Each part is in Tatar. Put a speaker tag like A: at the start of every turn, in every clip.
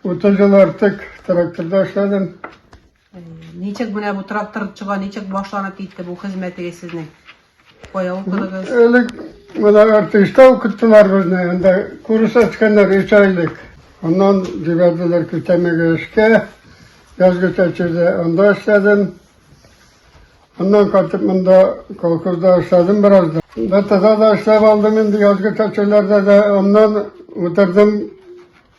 A: 30 ел артык тракторда эшләдем.
B: Ничек менә бу трактор чыга, ничек башланып китте бу хезмәтегез сезнең? Кая укыдыгыз?
A: Элек менә артышта укыттылар безне, анда курс ачканнар өч айлык. Аннан җибәрделәр көтәмәгә эшкә, язгы чәчүдә анда эшләдем. Аннан кайтып монда колхозда эшләдем бераз да. Бәтәдә дә эшләп алдым инде, язгы чәчүләрдә дә. Аннан үтердем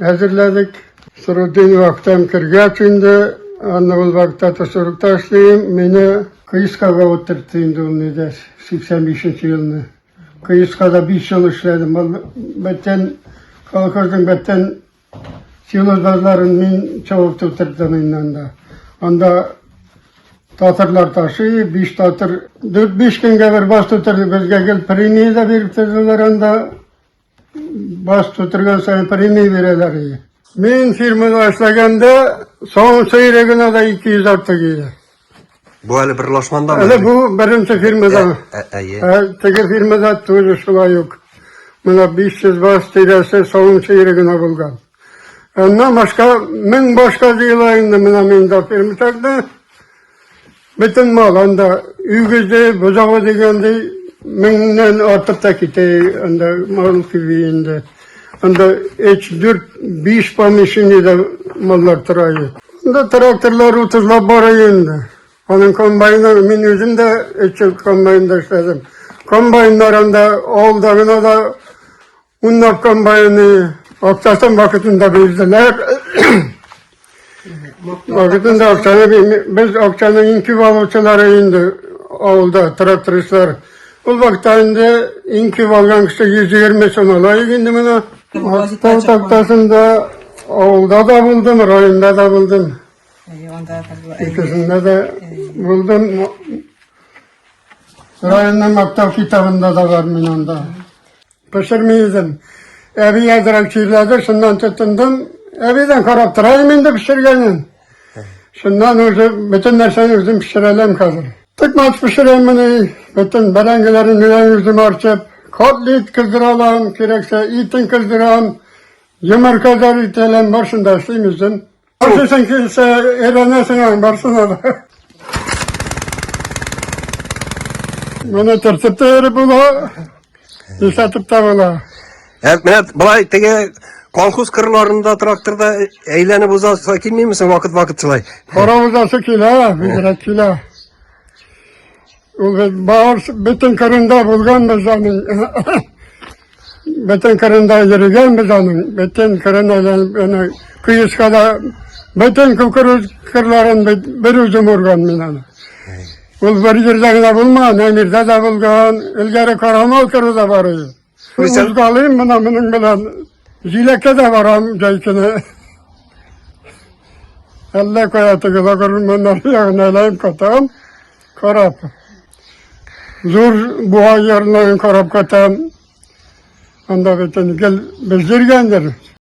A: Әзерләдек. Сырудин вактан кергәч инде, аны ул вакытта тосырыкта эшлим, мине Кыискага утыртты инде ул нидә, 85 елны. Кыискада 5 ел эшләдем. Ул бөтен колхозның бөтен силозларын мин чавып утырттым инде анда. Анда татарлар ташый, биш татар, дүрт-биш көнгә бер бас тутырды, безгә гел премия да биреп тордылар анда. Баш тутырган сайын премия бирәләр иде. Мин фирмада эшләгәндә соңгы сыйры гына да 200 артык иде. Бу әле
C: бер лашманда. Әле бу беренче фирмада.
A: Ә, ә, ә, ә, ә теге фирмада тоже шулай ук. Менә 500 баш тирәсе соңгы сыйры гына булган. Аннан башка, мең башка җыела инде менә миндә фермисәкне. Бөтен мал анда үгезе, бозавы дигәндәй меңнән артып та китә анда мал кеби инде. Анда 3-4-5 помещениедә маллар тора иде. Анда тракторлар утызлап бара инде. Аның комбайны, мин үзем дә өч ел комбайнда эшләдем. Комбайннар анда алда гына да Уннар комбайны акчасын вакытында бирделәр. Вакытында акчаны без акчаны инкү алучылары инде авылда трактористлар. Ул вакытта инде инкү алган кеше 120 сум ала инде менә. Мактау тактасында авылда да булдым, районда да булдым. Икесендә дә булдым. Районның мактау китабында да бар мин анда. Пешерми идем. Әби әзрәк чирләде, шуннан тотындым. Әбидән карап торайым инде пешергәнен. Шуннан уже бөтен нәрсәне үзем пешерәләм хәзер. Тыкмач пешерәм менә, бөтен бәрәңгеләрен үзем арчып, котлет кыздыралам, кирәксә итен кыздырам, йомырка да ителәм, баршында эшлим үзем. Барсың килсә, өйрәнәсең аң, барсына да. Менә төртеп тә йөреп була, исәтеп тә була. Ә менә
C: былай теге колхоз кырларында тракторда әйләнеп узасы килмимесең вакыт-вакыт шулай? Кара узасы килә,
A: бигрәк килә. Ул бит бар, бөтен кырында булганбыз аның. Бөтен кырында йөргәнбез аның. Бөтен кырына аны көескә дә бөтен кукуруз кырларын бер үзем урган мин аны. Ул бер җирдә генә булмаган, Әмирдә дә булган, элгәре Карамал кыры да бар иде. Күрсәт. Узгалыйм мына моның белән. Җиләккә дә барам җәй көне. Әллә кая теге лагерманнар ягына әйләнеп кайтам. Карап. Зур буа ярларын карап кайтам. Анда бөтен гел белдергәндер.